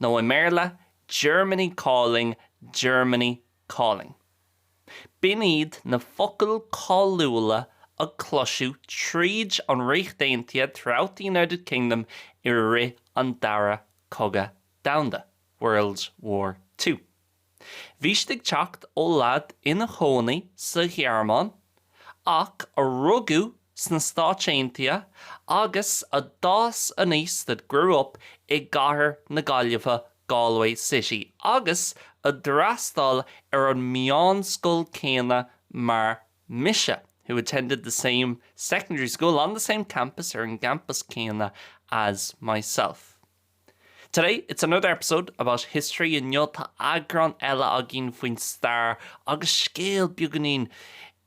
nó i mBéarla, Germany Calling, Germany Calling. B'in iad na focail cáiliúla a cloiseadh tríd an Ríocht Aontaithe throughout the United Kingdom i rith an Dara Cogadh Domhanda, World War Two. Bhí siad ag teacht ó lad ina chónaí sa Ghearmáin ach a rugadh sna Stáit Aontaithe agus a d'fhás aníos, that grew up, i gcathair na Gaillimhe, Galway City, agus a d'fhreastail ar an meánscoil céanna mar mise, who attended the same secondary school on the same campus, ar an gcampas céanna, as myself. Today, it's another episode about history, inniu tá eagrán eile againn faoin stair agus scéal beagáinín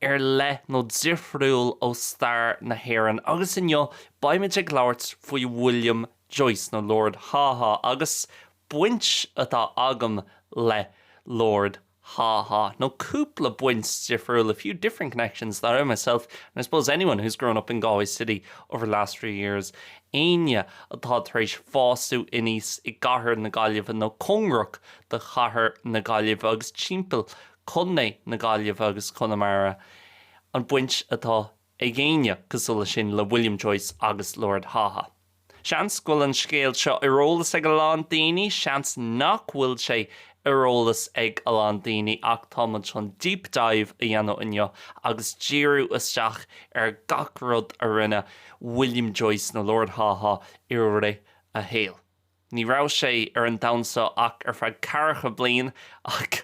ar leith nó difriúil ó stair na hÉireann agus inniu beimid ag labhairt faoi William Joyce nó Lord Haw Haw agus baint atá agam le Lord Haw Haw, nó cúpla baint difriúil, a few different connections that I myself, and I suppose anyone who's grown up in Galway city over the last three years, éinne atá tar éis fásadh aníos i gcathair na Gaillimhe nó cóngarach do chathair na Gaillimhe agus timpeall Contae na Gaillimhe agus Conamara, an baint atá ag éinne cosúil leis sin le William Joyce agus Lord Haw Haw. Seans go bhfuil an scéal seo ar eolas ag a lán daoine, seans nach bhfuil sé ar eolas ag a lán daoine ach tá muid chun deep dive a dhéanamh inniu agus díriú isteach ar gach rud a rinne William Joyce nó Lord Haw Haw i rith a shaoil. Ní raibh sé ar an domhan seo ach ar feadh ceathracha bliain ach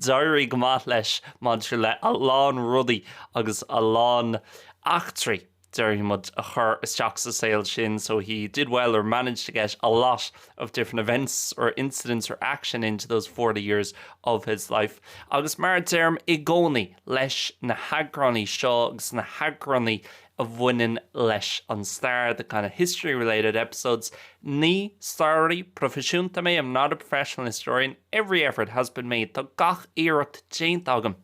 d'éirigh go maith leis maidir le a lán rudaí agus a lán eachtraí, déarfaidh muid, a chur isteach sa saol sin, so he did well or managed to get a lot of different events or incidents or action into those forty years of his life. Agus mar a deirim i gcónaí leis na heagránaí seo agus na heagránaí a bhaineann leis an stair, the kind of history-related episodes Ní staraí proifisiúnta mé, I'm not a professional historian. Every effort has been made Tá gach iarracht déanta agam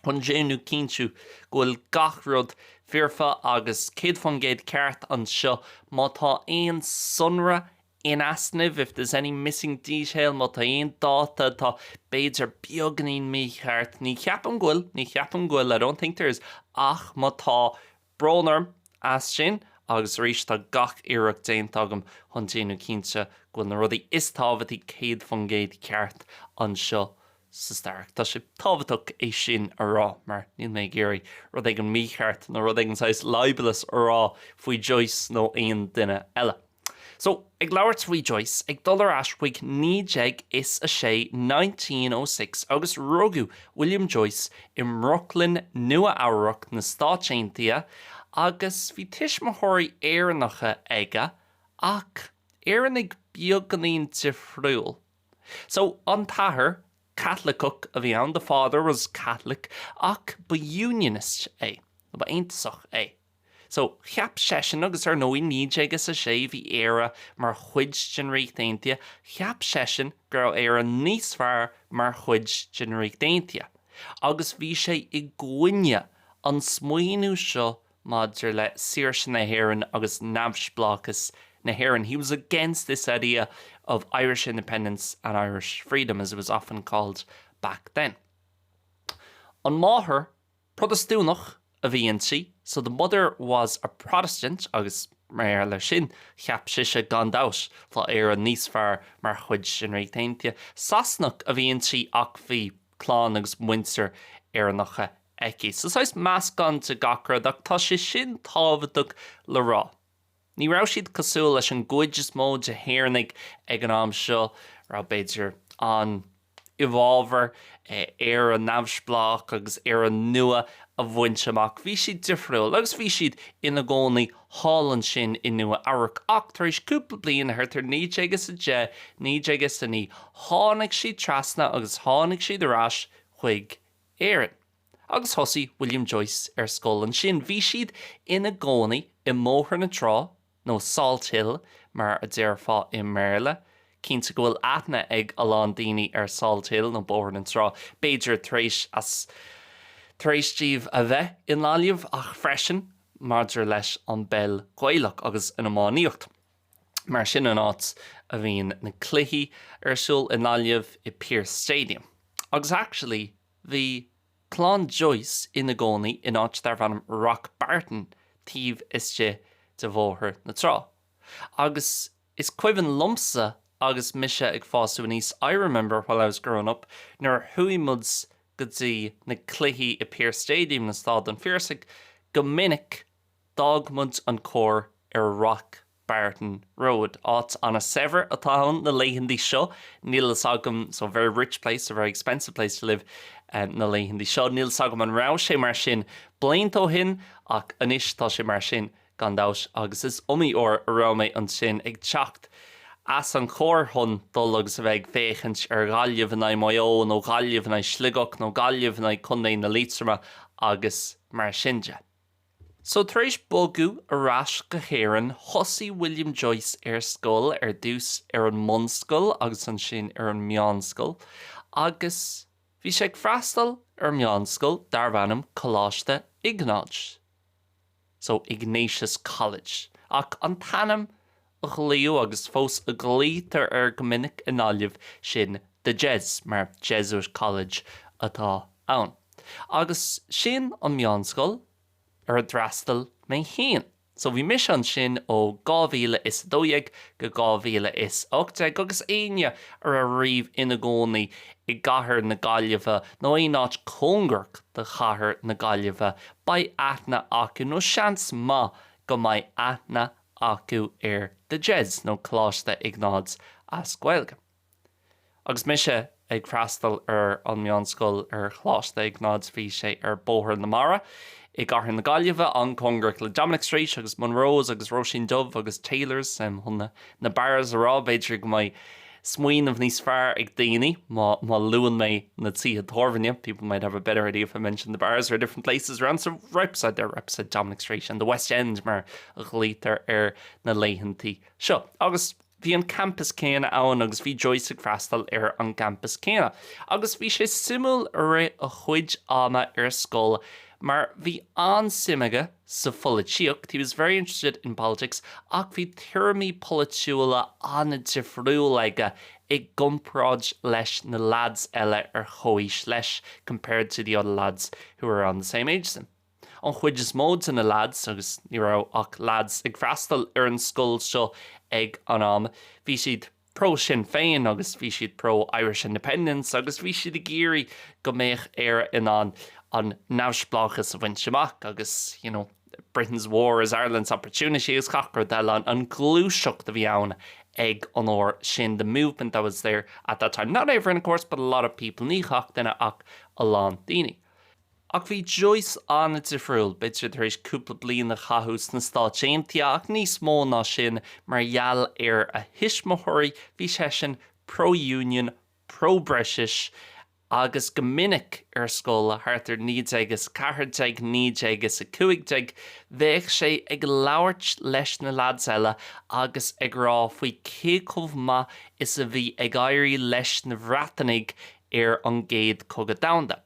chun déanamh, cinntiú, go bhfuil gach rud foirfe agus céad faoin gcéad ceart anseo. Má tá aon sonra In easnamh, if there's any missing detail, má tá aon dáta atá, b'fhéidir, beagáinín mícheart. Ní cheapaim go bhfuil, ní cheapaim go bhfuil, I don't think there is. Ach má tá, brón orm as sin agus arís tá gach iarracht déanta agam chun déanamh cinnte go bhfuil na rudaí is tábhachtaí céad faoin gcéad ceart anseo sa stair ach. Tá sé tábhachtach é sin a rá mar níl mé ag iarraidh rud éigin mícheart nó rud éigin saghas libelous a rá faoi Joyce nó aon duine eile. So, ag labhairt faoi Joyce, ag dul ar ais chuig naoi déag is a sé, nineteen oh six, agus rugadh William Joyce i mBrooklyn, Nua-Eabhrac, na Stáit Aontaithe, agus bhí tuismitheoirí Éireannacha aige, ach Éireannaigh beagánín difriúil. So, an t-athair, Caitliceach a bhí ann, the father was Catholic, ach ba Unionist é, nó ba Aontasach é. So, cheap seisean, agus ar ndóigh, naoi déag is a sé, bhí Éire mar chuid den Ríocht Aontaithe, cheap seisean go raibh Éire níos fearr mar chuid den Ríocht Aontaithe. Agus bhí sé i gcoinne an smaoiniú seo maidir le saoirse na hÉireann agus neamhspleáchas na hÉireann, he was against this idea of Irish independence and Irish freedom, as it was often called back then. An mháthair. Protastúnach a bhí inti, so the mother was a Protestant agus mar gheall air sin, cheap sise gan dabhts, tá Éire níos fearr mar chuid den Ríocht Aontaithe. Sasanach a bhí inti ach bhí clann agus muintir Éireannach aici. So saghas meascán de gach rud ach tá sé sin tábhachtach le rá. Ní raibh siad cosúil leis an gcuid is mó de hÉireannaigh ag an am seo, a raibh, b'fhéidir, an, i bhfabhar Éire neamhspleách agus Éire nua a bhaint amach. Bhí siad difriúil agus bhí siad ina gcónaí thall ansin i Nua Eabhrac. Ach tar éis cúpla bliain, thart ar naoi déag is a deich, naoi déag is a naoi, tháinig siad trasna agus tháinig siad ar ais chuig Éirinn. agus thosaigh William Joyce ar scoil ansin. Bhí siad ina gcónaí i mBóthar na Trá, nó Salt Hill mar a déarfá i mBéarla. Cinnte go bhfuil aithne ag a lán daoine ar Salt Hill, nó Bóthar na Trá, b'fhéidir tar éis tar éis daoibh a bheith i nGaillimh, ach freisin maidir leis an bpeil Ghaelach agus an iománaíocht. Mar sin an áit a bhíonn na cluichí ar siúl i nGaillimh, i Pearse Stadium. Agus actually, Bhí clann Joyce ina gcónaí in áit darb ainm Rock Barton taobh istigh de Bhóthar na Trá. Agus is cuimhin liomsa agus mise ag fású aníos, I remember while I was growing up, nuair a chuaigh muid go dtí na cluichí i Pearse Stadium nó Stáid an Phiarsaigh, go minic, d'fhág muid an carr ar Rock Barton Road. Áit an-saibhir atá ann na laethantaí seo, níl fhios agam, so, very rich place, a very expensive place to live na laethantaí seo. Níl fhios agam an raibh sé mar sin blianta ó shin ach anois tá sé mar sin gan dabhts agus is iomaí uair a raibh mé ansin ag teacht as an charr chun dul agus a bheith ag féachaint ar Ghaillimh in aghaidh Maigh Eo nó Gaillimh in aghaidh Sligeach nó Gaillimh in aghaidh Contae na Liatroma agus mar sin de. So tar éis bogadh ar ais go hÉirinn thosaigh William Joyce ar scoil, ar dtús ar an mbunscoil agus ansin ar an meánscoil agus bhí sé ag freastal ar mheánscoil darbh ainm Coláiste Iognáid, so Ignatius College ach an t-ainm a ghlaodh, agus fós a ghlaoitear air go minic i nGaillimh, sin The Jes, mar Jesuit College atá ann. Agus sin an meánscoil ar a d'fhreastail mé féin. So bhí mise ansin ó 2012 go 2018 agus éinne a raibh riamh ina gcónaí i gcathair na Gaillimhe nó aon áit cóngarach do chathair na Gaillimhe, beidh aithne acu, nó seans maith go mbeidh aithne acu ar The Jes, nó Coláiste Iognáid as Gaeilge. Agus mise ag freastal ar an meánscoil ar Choláiste Iognáid bhí sé ar Bóthar na Mara i gcathair na Gaillimhe, an-chóngarach le Dominic Street agus Monroes agus Róisín Dubh agus Taylors, em, chun na bars a rá, b'fhéidir go mbeidh smaoineamh níos fearr ag daoine má luann mé na tithe tábhairne people might have a better idea if I mention the bars or different places around so right beside there right beside Dominic Street and the West End mar a ghlaoitear air na laethanta seo agus bhí an campus céanna ann agus bhí Joyce ag freastal ar an campus céanna agus bhí sé suimiúil i rith a chuid ama ar scoil mar bhí an-suim aige sa pholaitíocht, he was very interested in politics, ach bhí tuairimí polaitiúla an-difriúil aige i gcomparáid leis na leads eile ar chomhaois leis, compared to the other lads who were around the same age as him. An chuid is mó de na leads, agus ní raibh ach leads ag freastal ar an scoil seo ag an am, bhí siad. pro Sinn Féin agus bhí siad pro Irish Independence agus bhí siad ag iarraidh go mbeadh Éire in ann an neamhspleáchas a bhaint amach agus you know Britain's war is Ireland's opportunity agus gach rud eile, an ghluaiseacht a bhí ann ag an uair sin the movement that was there at that time, not everyone of course but a lot of people, ní gach duine ach a lán daoine. Ach bhí Joyce an-difriúil. B'fhéidir tar éis cúpla bliain a chaitheamh sna Stáit Aontaithe ach níos mó ná sin, mar gheall ar a thuismitheoirí, bhí seisean pro-union, pro-British agus go minic ar scoil, thart ar 1914, 1915, bheadh sé ag labhairt leis na leaids eile agus ag rá faoi cé chomh maith is a bhí ag éirí leis na Bhreatanaigh ar an gCéad Cogadh Domhanda.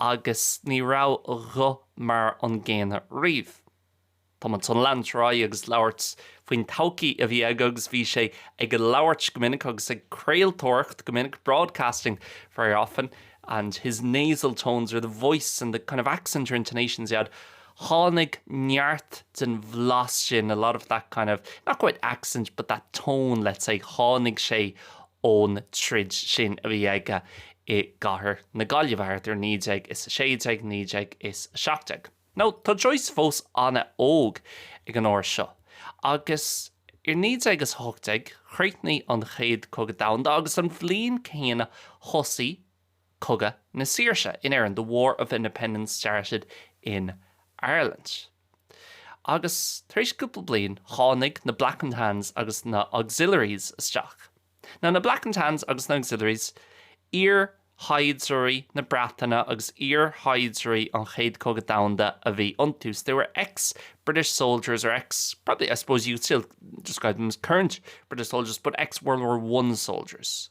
Agus ní raibh a ghuth mar an gcéanna riamh. Tá muid chun lean ar aghaidh agus labhairt faoin todhcaí a bhí aige agus bhí sé ag labhairt go minic agus ag craoltóireacht go minic broadcasting very often and his nasal tones or the voice and the kind of accent or intonations he had Tháinig neart den bhlas sin, a lot of that kind of, not quite accent, but that tone, let's say, tháinig sé ón troid sin a bhí aige i gcathair na Gaillimhe thart ar 1916, 1917. Now, tá Joyce fós an-óg ag an uair seo agus ar 1918 chríochnaigh an Chéad Chogadh Domhanda agus an bhliain chéanna thosaigh, Cogadh na Saoirse in Éirinn, The War of Independence Started in Ireland. Agus tar éis cúpla bliain, tháinig na Black and Tans agus na Auxiliaries isteach. Now, na Black and Tans agus na Auxiliaries, iar-shaighdiúirí na Breataine agus iar-shaighdiúirí an Chéad Chogadh Domhanda a bhí iontu, so they were ex-British soldiers or ex, probably, I suppose you could still describe them as current British soldiers, but ex-World War One soldiers.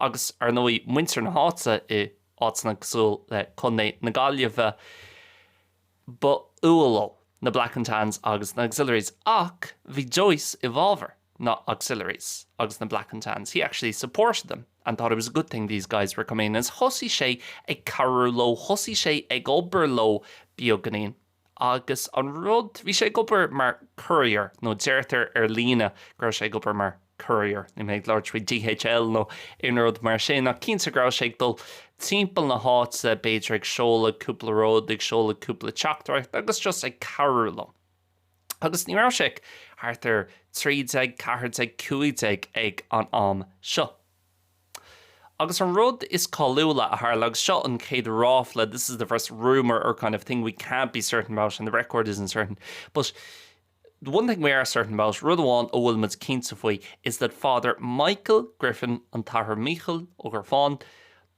agus, ar ndóigh, muintir na háite i áiteanna cosúil le Contae na Gaillimhe, ba fhuath leo na Black and Tans agus na Auxiliaries. Ach bhí Joyce i bhfábhar na Auxiliaries agus na Black and Tans, he actually supported them and thought it was a good thing these guys were coming in, is thosaigh sé ag cabhrú leo, thosaigh sé ag obair leo beaganín. Agus an rud, bhí sé ag obair mar courier, nó deirtear ar líne go raibh sé ag obair mar courier, níl mé ag labhairt faoi DHL nó aon rud mar sin, ach cinnte go raibh sé ag dul timpeall na háite, b'fhéidir ag seoladh cúpla rud, ag seoladh cúpla teachtaireacht agus just ag cabhrú leo. Agus ní raibh sé ach thart ar 13, 14, 15 ag an am seo. Agus an rud is cáiliúla a tharla, agus seo an chéad ráfla, this is the first rumour or kind of thing we can't be certain about and the record isn't certain, but the one thing we are certain about, rud amháin a bhfuil muid cinnte faoi, is that Father Michael Griffin, an tAthair Mícheál Ó Gríofáin,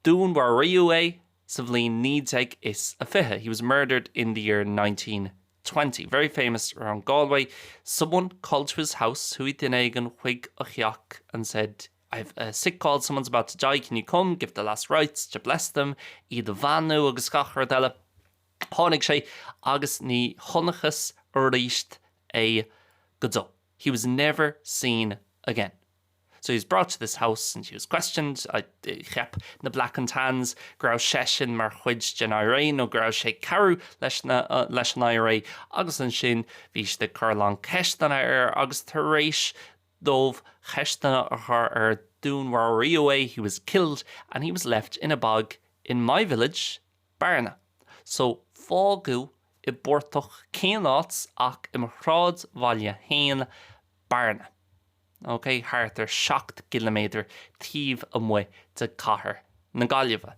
dúnmharaíodh é sa bhliain naoi déag is a fiche, he was murdered in the year nineteen twenty, very famous around Galway, someone called to his house, chuaigh duine éigin chuig a theach and said, I have a sick call, someone's about to die, can you come, give the last rites, to bless them, iad a bheannú agus gach rud eile. Tháinig sé agus ní chonacthas aríst é go deo, he was never seen again. So he was brought to this house and he was questioned, cheap na Black and Tans go raibh seisean mar chuid den IRA nó go raibh sé ag cabhrú leis na, leis an IRA agus ansin bhí siad ag cur a lán ceisteanna air agus tar éis dóibh ceisteanna a chur air, dúnmharaíodh é, he was killed, and he was left in a bog in my village, Bearna, so fágadh i bportach cén áit ach i mo shráidbhaile féin, Bearna, ok, thart ar seacht gciliméadar taobh amuigh de chathair na Gaillimhe.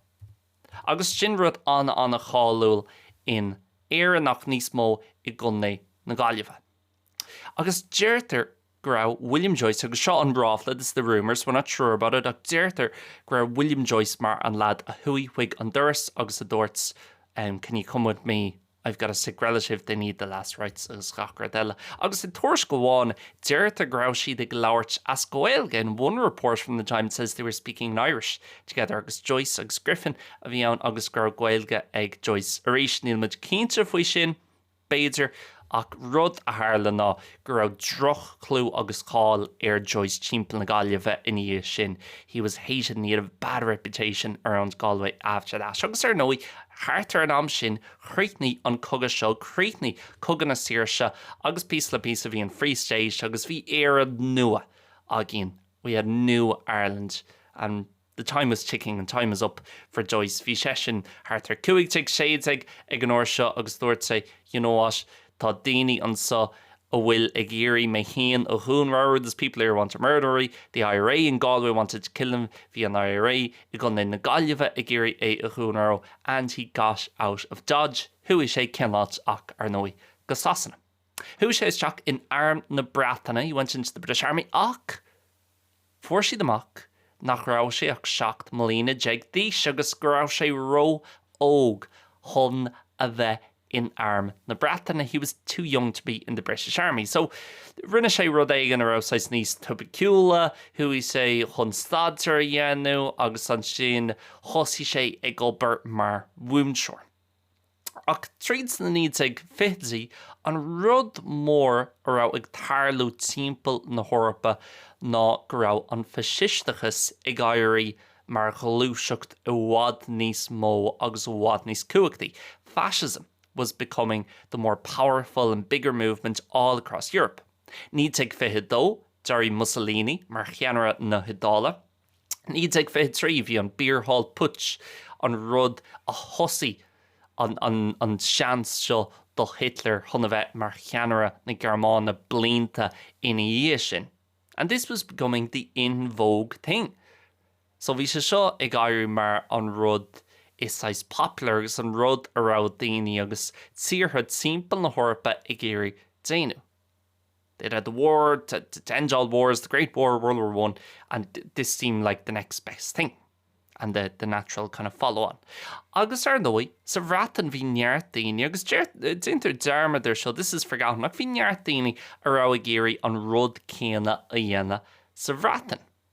Agus sin rud an-an-cháiliúil in Éirinn ach níos mó i gContae na Gaillimhe. Agus deirtear go raibh William Joyce, agus seo an ráfla, this is the rumour so we're not sure about it, ach deirtear go raibh William Joyce mar an lad a chuaigh chuig an doras agus a dúirt can you come with me, I've got a sick relative, they need the last rites agus gach rud eile. Agus i dtuairisc amháin deirtear go raibh siad ag labhairt as Gaeilge, in one report from the time it says they were speaking in Irish together agus Joyce agus Griffin a bhí ann agus go raibh Gaeilge ag Joyce. Arís níl muid cinnte faoi sin. B'fhéidir, ach rud a tharla ná go raibh droch-chlú agus cáil ar Joyce timpeall na Gaillimhe ina dhiaidh sin, he was hated and he had a bad reputation around Galway after that. Agus ar ndóigh, thart ar an am sin, chríochnaigh an cogadh seo, chríochnaigh Cogadh na Saoirse, agus píosa le píosa, bhí an Free State agus bhí Éire nua againn, we had new Ireland, and. The time was ticking and time was up for Joyce. Bhí seisean thart ar cúig déag, sé déag ag an uair seo agus dúirt sé, you know what, tá daoine anseo a bhfuil ag iarraidh mé féin a dhúnmharú, there's people here who want to murder him, the IRA in Galway wanted to kill him, bhí an IRA i gContae na Gaillimhe ag iarraidh é a dhúnmharú, and he got out of Dodge, chuaigh sé cén áit ach, ar ndóigh, go Sasana. Chuaigh sé isteach in Arm na Breataine, he went into the British Army, ach, Fuair siad amach nach raibh sé ach seacht mbliana déag d'aois agus go raibh sé ró-óg chun a bheith in Arm na Breataine, he was too young to be in the British Army. So, rinne sé rud éigin a raibh saghas níos tipiciúla, chuaigh sé chun staidéar a dhéanamh agus ansin thosaigh sé ag obair mar mhúinteoir. Ach tríd na 1920idí, an rud mór a raibh ag tarlú timpeall na hEorpa ná go raibh an faisisteachas ag éirí mar ghluaiseacht i bhfad níos mó agus i bhfad níos cumhachtaí, fascism was becoming the more powerful and bigger movement all across Europe. 1922, d'éirigh Mussolini mar cheannaire na hIodáile. 1923, bhí an Beer Hall Putsch, an rud a thosaigh an seans seo do Hitler chun a bheith mar cheannaire na Gearmáine blianta ina dhiaidh sin, and this was becoming the in vogue thing. So bhí sé seo ag éirí mar an rud is saghas popular agus an rud a raibh daoine agus tíortha timpeall na hEorpa ag iarraidh déanamh. They'd had the war, to to end all wars, the great war, World War One, and this seemed like the next best thing and the the natural kind of follow on. Agus ar ndóigh, sa Bhreatain bhí neart daoine, agus deir déantar dearmad air seo, this is forgotten, ach bhí neart daoine a raibh ag iarraidh an rud céanna a dhéanamh sa Bhreatain.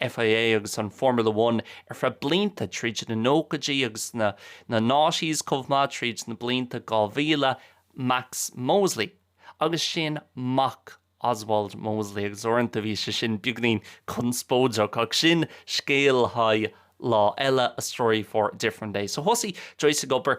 F I A agus an Formula One ar feadh blianta tríd na nóchaidí agus na na noughties chomh maith tríd na blianta 2000 Max Mosley agus sin mac Oswald Mosley agus uaireanta bhí sé sin beagainín conspóideach ach sin scéal le haghaidh lá eile a story for a different day so thosaigh Joyce ag obair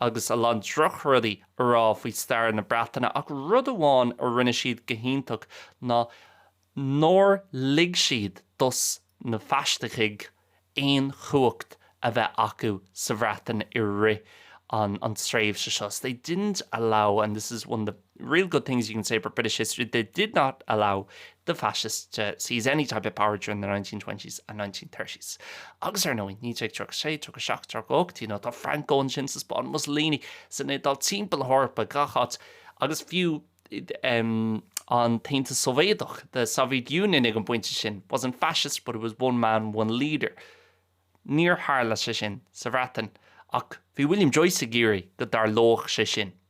agus a lán drochrudaí a rá faoi stair na Breataine ach rud amháin a rinne siad go hiontach ná nár lig siad dos na faisistigh aon chumhacht a bheith acu sa Bhreatain i rith an tréimhse seo they didn't allow and this is one of the real good things you can say about British history, they did not allow the fascists to seize any type of power during the 1920s and 1930s. Agus ar ndóigh, 1936, 37, 38, you know, tá Franco ansin sa Spáinn, Mussolini san Iodáil, timpeall na hEorpa, gach áit, agus fiú an tAontas Sóivéadach, the Soviet Union ag an bpointe sin, wasn't fascist but it was one man, one leader. Níor tharla sé sin sa Bhreatain, ach bhí William Joyce ag iarraidh go dtarlódh sé sin.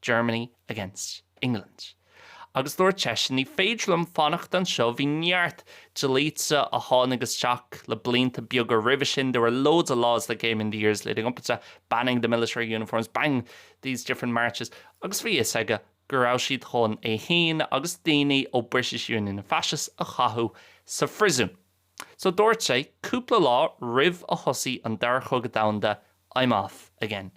Germany against England. Agus dúirt seisean, ní féidir liom fanacht anseo, bhí neart dlíthe a tháinig isteach le blianta beaga roimhe sin, there were loads of laws that came in the years leading up to that, banning the military uniforms, banning these different marches, agus bhí fhios aige go raibh siad chun é féin agus daoine ón British Union of Fascists a chaitheamh sa phriosún. So dúirt sé, cúpla lá roimh a thosaigh an Dara Cogadh Domhanda, I'm off again.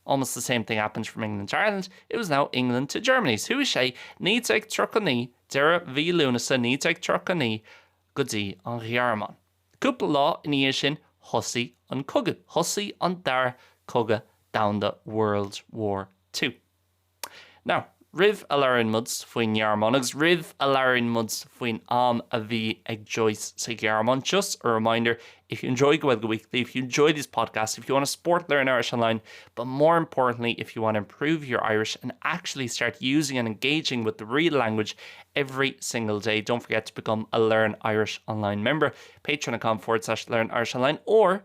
Almost the same thing happened from England to Ireland, it was now England to Germany. So chuaigh sé 1939, deireadh mhí Lúnasa 1939, go dtí an Ghearmáin. Cúpla lá ina dhiaidh sin, thosaigh an cogadh. Thosaigh an Dara Cogadh Domhanda World War Two. Now, roimh a labhraíonn muid faoin nGearmáin, agus roimh a labhraíonn muid faoin am a bhí ag Joyce sa Ghearmáin, just a reminder, if you enjoy Gaeilge Weekly, if you enjoy these podcasts, if you want to support Learn Irish Online, but more importantly, if you want to improve your Irish and actually start using and engaging with the real language every single day, don't forget to become a Learn Irish Online member, patreon.com forward slash Learn Irish Online, or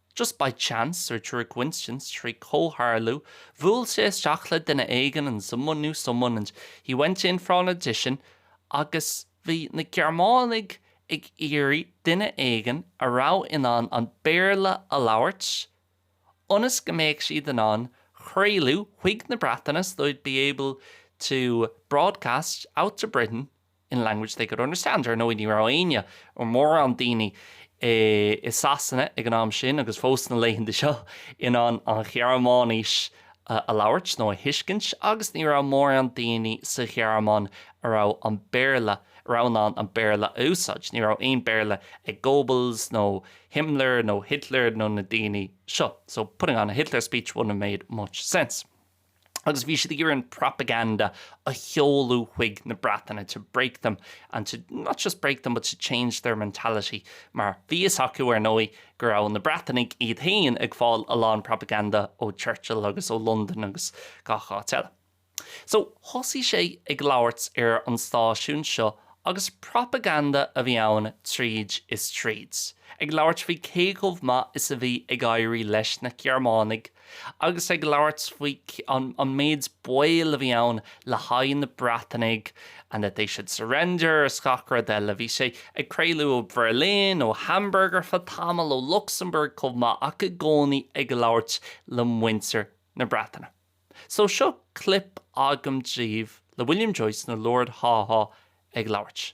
Just by chance, or through a coincidence, trí chomhtharlú, bhuail sé isteach le duine éigin and someone knew someone and he went in for an audition agus bhí na Gearmánaigh ag iarraidh duine éigin a raibh in ann an Béarla a labhairt ionas go mbeadh siad in ann craoladh chuig na Breataine, so they'd be able to broadcast out to Britain in language they could understand, ar ndóigh ní raibh éinne, nó mórán daoine, i Sasana ag an am sin agus fós sna laethanta seo, in ann an Ghearmáinis a labhairt nó a thuiscint agus ní raibh mórán daoine sa Ghearmáin a raibh an Béarla, a raibh in ann an Béarla a úsáid. Ní raibh aon Béarla ag Goebbels nó Himmler nó Hitler nó na daoine seo. So putting on a Hitler speech wouldn't have made much sense. agus bhí siad ag iarraidh an propaganda a sheoladh chuig na Breatanaigh, to break them and to, not just break them, but to change their mentality, mar bhí fhios acu, ar ndóigh, go raibh na Breatanaigh iad féin ag fáil a lán propaganda ó Churchill agus ó Londain agus gach áit eile. So, thosaigh sé ag labhairt ar an stáisiún seo agus propaganda a bhí ann tríd is tríd, ag labhairt faoi cé chomh maith is a bhí ag éirí leis na Gearmánaigh, Agus ag labhairt faoi an méid baol a bhí ann le haghaidh na Breatanaigh and that they should surrender is gach rud eile, bhí sé ag craoladh ó Bherlin, ó Hamburg ar feadh tamaill, ó Lucsamburg chomh maith ach i gcónaí ag labhairt le muintir na Breataine. So seo clip agam daoibh le William Joyce nó Lord Haw Haw ag labhairt.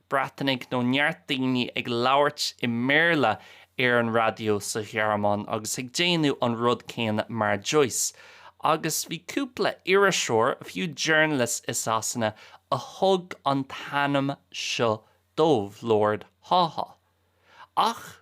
Breatanaigh nó neart daoine ag labhairt i mBéarla ar an raidió sa Ghearmáin agus ag déanamh an rud céanna mar Joyce. Agus bhí cúpla iriseoir, a few journalists i Sasana a thug an t-ainm seo dóibh, Lord Haw-Haw. Ach.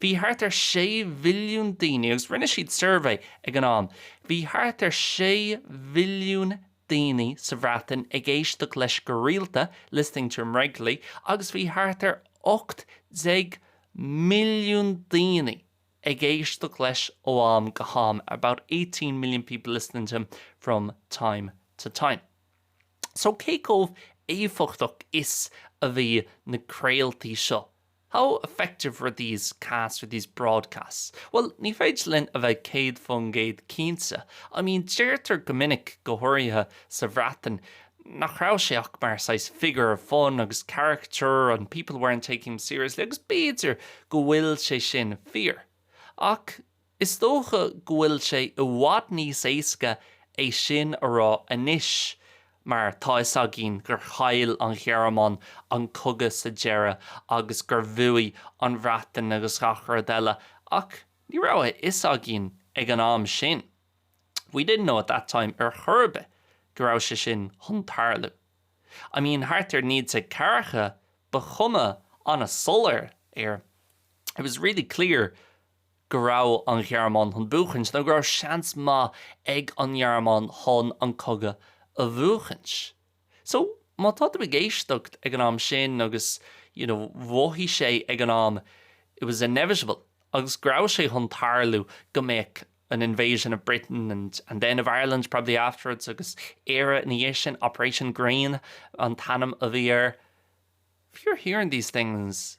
Bhí thart ar 6 mhilliún duine, agus rinne siad suirbhé ag an am, bhí thart ar 6 mhilliún duine sa Bhreatain ag éisteacht leis go rialta, listening to him regularly, agus bhí thart ar 18 milliún duine ag éisteacht leis ó am go ham, about 18 million people listening to him from time to time. So cé chomh éifeachtach is a bhí na craoltaí seo? How effective were these casts or these broadcasts? Bhuel, ní féidir linn a bheith céad faoin gcéad cinnte. I mean, deirtear go minic, go háirithe sa Bhreatain, nach raibh sé ach mar saghas figure of fun agus caricature and people weren't taking him seriously agus b'fhéidir go bhfuil sé sin fíor. Ach Is dócha go bhfuil sé i bhfad níos éasca é sin a rá anois mar tá fhios againn gur chaill an Ghearmáin an cogadh sa deireadh agus gur bhuaigh an Bhreatain agus gach rud eile ach ní raibh a fhios againn ag an am sin, we didn't know at that time, ar chor ar bith go raibh sé sin chun tarlú. I mean thart ar naoi déag ceathracha bhí cuma an-soiléir air, it was really clear, go raibh an Ghearmáin chun buachaint, nó go raibh seans maith ag an nGearmáin chun an cogadh a bhuachaint. So, má tá tú ag éisteacht ag an am sin agus you know mhothaigh sé ag an am it was inevitable agus go raibh sé chun tarlú go mbeadh an invasion of Britain and then of Ireland probably afterwards agus Éire ina dhiaidh sin, Operation Green an t-ainm a bhí air if you're hearing these things,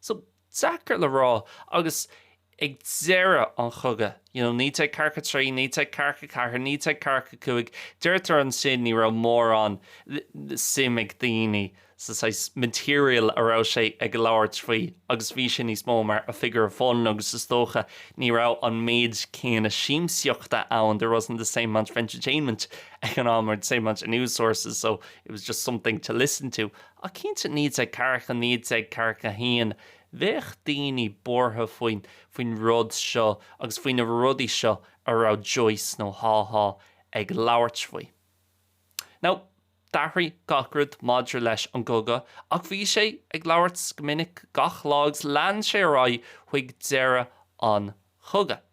So deacair le rá. Agus ag deireadh an chogaidh, you know, 1943, 1944, 1945, deirtear ansin ní raibh mórán suim ag daoine sa saghas material a raibh sé ag labhairt faoi agus bhí sé níos mó mar a figure of fun agus is dócha ní raibh an méid céanna siamsaíochta ann, there wasn't the same amount of entertainment ag an am or the same amount of news sources so it was just something to listen to. Ach cinnte, 1940, 1941, bheadh daoine buartha faoin faoin rud seo agus faoi na rudaí seo a raibh Joyce nó Haw-Haw ag labhairt faoi. Now, d'athraigh gach rud maidir leis an gcogadh ach bhí sé ag labhairt go minic gach lá agus lean sé ar aghaidh chuig deireadh an chogaidh.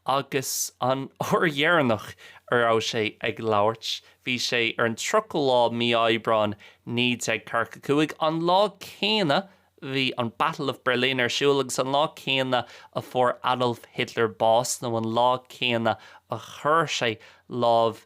agus an uair dheireanach a raibh sé ag labhairt bhí sé ar an 30 lá mí Aibreáin 1945, an lá céanna bhí an Battle of Berlin ar siúl agus an lá céanna a fuair Adolf Hitler bás, nó an lá céanna a chuir sé lámh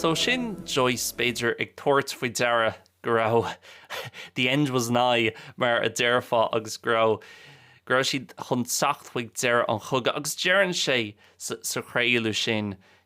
So sin Joyce, b'fhéidir, ag tabhairt faoi deara go raibh the end was nigh, mar a déarfá, agus go raibh go raibh siad chun teacht chuig deireadh an chogaidh. Agus deireann sé sa chraoladh sin,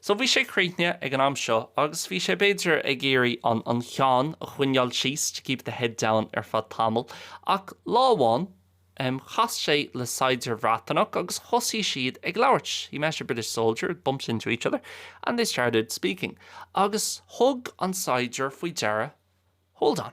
So bhí sé críochnaithe ag an am seo agus bhí sé b'fhéidir ag iarraidh an cheann a choinneáil síos, to keep the head down, ar feadh tamaill. Ach lá amháin em chas sé le saighdiúir Bhreatanach agus thosaigh siad ag labhairt, he met a British soldier, bumped into each other and they started speaking. Agus thug an saighdiúir faoi deara, hold on.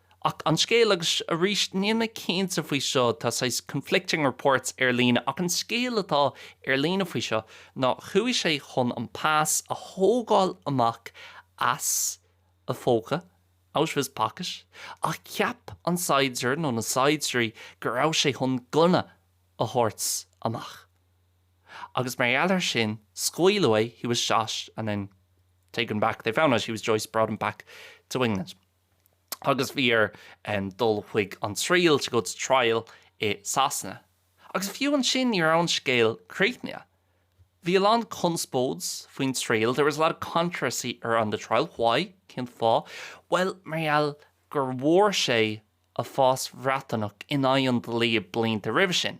Ach an scéal, agus arís níl mé cinnte faoi seo, tá saghas conflicting reports ar líne, ach an scéal atá ar líne faoi seo ná chuaigh sé chun an pas a thógáil amach as a phóca, out of his pocket, ach cheap an saighdiúir nó na saighdiúirí go raibh sé chun gunna a thabhairt amach. Agus mar gheall ar sin, scaoileadh é, he was shot and then taken back, they found out he was Joyce, brought him back to England. agus bhí air dul chuig an triail, to go to trial, i Sasana. Agus fiú ansin ní raibh an scéal críochnaithe. Bhí a lán conspóid faoin triail, there was a lot of controversy around the trial. Why? Cén fáth? Bhuel, mar gheall gur bhfuair sé a phas Bhreatanach in aghaidh an dlí blianta roimhe sin.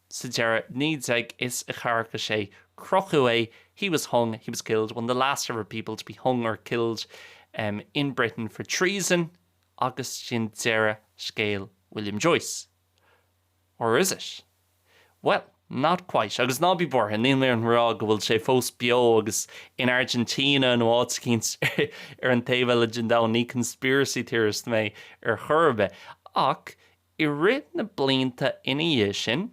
sa deireadh, 1946, crochadh é he was hung, he was killed, one of the last ever people to be hung or killed in Britain for treason agus sin deireadh scéal William Joyce. Or is it? Bhuel, not quite, agus ná bí buartha, níl mé ag rá go bhfuil sé fós beo agus in Argentina nó áit eicínt ar an taobh eile den domhan, ní conspiracy theorist mé ar chor ar bith, ach I rith na blianta ina dhiaidh sin,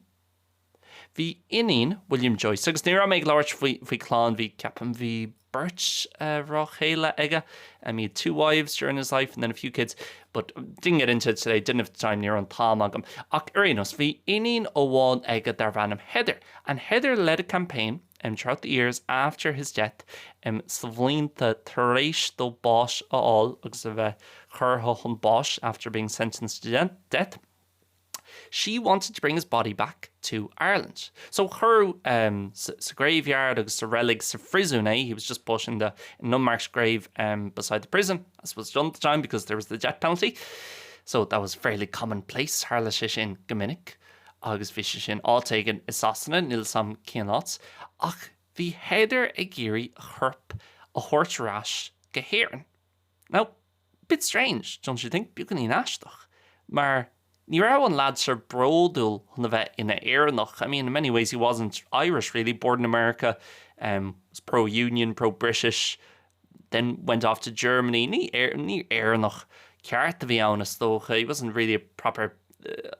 bhí iníon William Joyce, agus ní raibh mé ag labhairt faoi chlann, bhí, ceapaim, bhí beirt mhná chéile aige, and he had two wives during his life and then a few kids, but didn't get into it today, didn't have the time, ní raibh an t-am agam. Ach ar aon nós, bhí iníon amháin aige darbh ainm Heather, and Heather led a campaign, im throughout the years after his death im sa bhlianta tar éis dó báis a fháil agus a bheith curtha chun báis after being sentenced to death she wanted to bring his body back to Ireland. So cuireadh em sa graveyard agus sa reilig sa phríosún é he was just put in the in an unmarked grave em beside the prison as was done at the time because there was the death penalty so that was fairly commonplace tharla sé sin go minic Agus bhí sé sin áit éigin i Sasana, níl 's a'm cén áit, ach bhí Heather ag iarraidh a chorp a thabhairt ar ais go hÉirinn. Now, bit strange, don't you think? Beagáinín aisteach. Mar ní raibh an lad seo bródúil chun a bheith ina Éireannach. I mean, in many ways he wasn't Irish really, born in America, em, was pro-Union, pro-British, then went off to Germany. Ní Éir, ní Éireannach ceart a bhí ann is dócha, he wasn't really a proper, eh,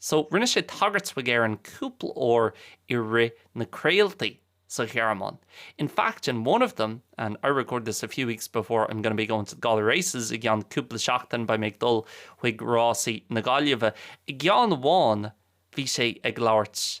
So, rinne sé tagairt chuig Éirinn cúpla uair i rith na craoltaí sa Ghearmáin. In fact, in one of them, and I record this a few weeks before I'm going to be going to the Galway races, i gceann cúpla seachtain beidh mé ag dul chuig rásaí na Gaillimhe, i gceann amháin bhí sé ag labhairt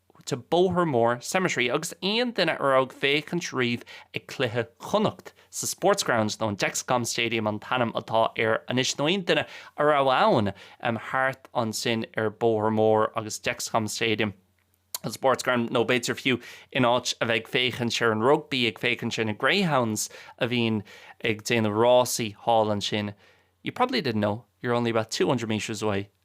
to Bohermore Cemetery agus aon duine a raibh ag féachaint riamh ag cluiche Chonnacht sa Sports Ground nó an Dexcom Stadium an t-ainm atá air anois nó aon duine a raibh ann thart ansin ar Bohermore agus Dexcom Stadium an Sports Ground nó b'fhéidir fiú in áit a bheith ag féachaint ar an rugby ag féachaint ar na greyhounds a bhíonn ag déanamh rásaí thall ansin You probably didn't know, you're only about 200 metres away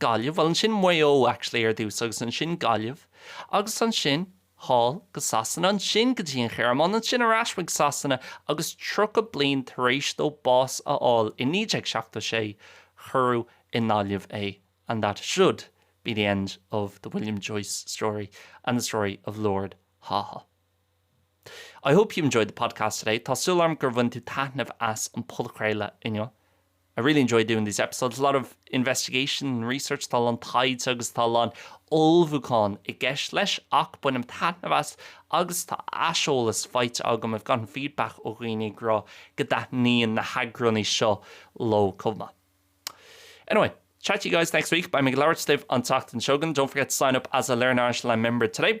Gaillimh, bhuel ansin Maigh Eo actually ar dtús agus ansin Gaillimh agus ansin thall go Sasana, ansin go dtí an Ghearmáin, ansin ar ais chuig Sasana agus 30 bliain tar éis dó bás a fháil i 1976 cuireadh i nGaillimh é and that should be the end of the William Joyce story and the story of Lord Haw-Haw. I hope you enjoyed the podcast today, tá súil agam gur bhain tú taitneamh as an podchraoladh inniu. I really enjoy doing these episodes, a lot of investigation and research, tá a lán taighde agus tá a lán ullmhúcháin i gceist leis ach bainim taitneamh as agus tá aiseolas faighte agam, I've gotten feedback ó dhaoine ag rá go dtaitníonn na heagránaí seo leo chomh maith. Anyway, chat to you guys next week, beidh mé ag labhairt libh an tseachtain seo chugainn, don't forget to sign up as a Learn Irish Live member today.